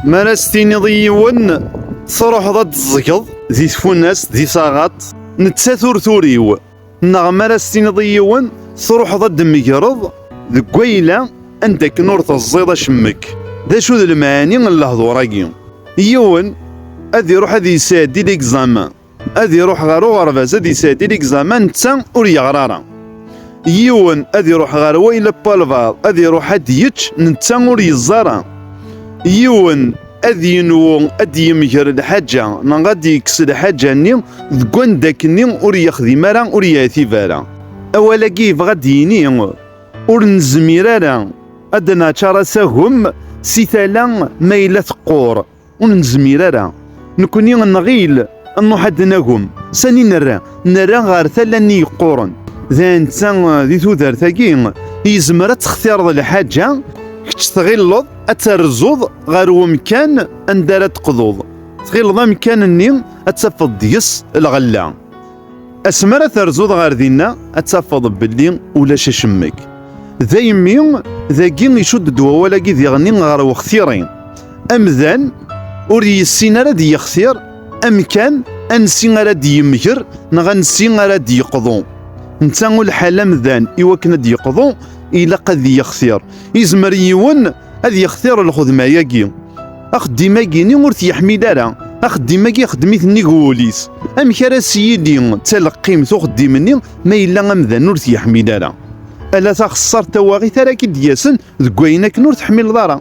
Mi ara s-tiniḍ i yiwen, truḥeḍ ad d-tẓgeḍ di tfunast, di taɣaṭ, nettat ur turiw. Neɣ mi ara s-tiniḍ i yiwen, truḥeḍ ad d-tmegreḍ deg wayla anda akken ur teẓẓiḍ acemmek. D acu d lemɛani n lehdur-agi? Yiwen ad iruḥ ad yesɛeddi ligẓamen. ad iruḥ ɣer uɣerbaz ad yesɛeddi ligzaman netta ur yeɣra ara yiwen ad iruḥ ɣer wayla palvar ad iruḥ ad yečč netta ur yeẓẓa ara yiwen ad yenwu ad d-yemger lḥaǧa neɣ ad d-yekkes lḥaǧa-nni deg wanda akken-nni ur yexdim ara ur yeɛtib ara. Awal-agi yebɣa ad d-yini ur nezmir ara ad d-naččar asagem si tala ma yella teqqur. Ur nezmir ara nekkni nɣil nruḥ ad nagum. Sani nerra? Nerra ɣer tala-nni yeqquren. D netta di tudert-agi yezmer ad textireḍ lḥaǧa, kečč tɣilleḍ ad terzuḍ ɣer umkan anda ara d-teqḍuḍ. Tɣilleḍ amkan-nni ad tafeḍ deg-s lɣella. Asmi ara terzuḍ ɣer dinna, ad tafeḍ belli ulac acemmek. Daymi, dagi icudd-d wawal-agi diɣen ɣer wextiri. Amdan ur yessin ara ad yextir amkan ansi ara d-yemger neɣ ansi ara d-yeqḍu. Netta ur lḥal amdan i wakken ad d-yeqḍu ilaq ad yextir. Izmer yiwen ad yextir lxedma-agi. Axeddim-agi-ni ur t-yeḥmil ara. Axeddim-agi ixeddem-it nnig wul-is. Amek ara s-yili d taleqqimt uxeddim-nni ma yella amdan ur t-yeḥmil ara? Ala taxessart tawaɣit ara k-id-yasen deg wayen akken ur teḥmileḍ ara.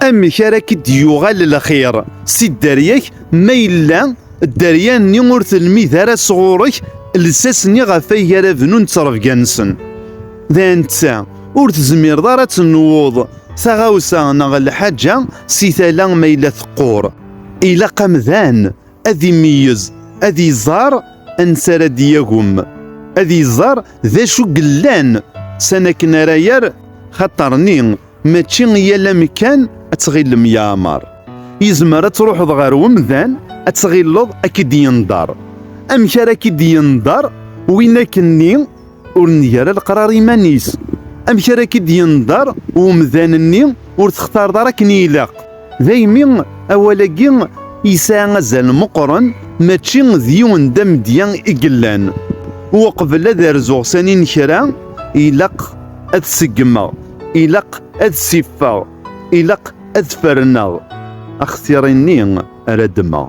Amek ara k-id-yuɣal lxir si dderya-k ma yella dderya-nni ur telmid ara sɣur-k lsas-nni ɣef ay ara bnun ttrebga-nsen? d netta ur tezmireḍ ara ad tenwuḍ taɣawsa neɣ lḥaǧa si tala ma yella teqqur ilaq amdan ad imeyyez ad iẓer ansi ara d-yagem ad iẓer d acu yellan san akken ara yer xaṭerni mačči yal amekkan ad tɣilem yeɛmer yezmer ad truḥeḍ ɣer umdan ad tɣileḍ ak-id yenḍer amek ara ak-id yenḍer win akenni Ur neg ara leqrar iman-is. Amek ara k-id-yenḍer umdan-nni ur textareḍ ara akken i ilaq? Daymi, awal-agi yesɛa azal meqqren, mačči d yiwen d amedya i yellan. Uqbel ad rzuɣ sani n kra, ilaq ad seggmeɣ, ilaq ad siffeɣ, ilaq ad ferneɣ axtir-nni ara ddmeɣ.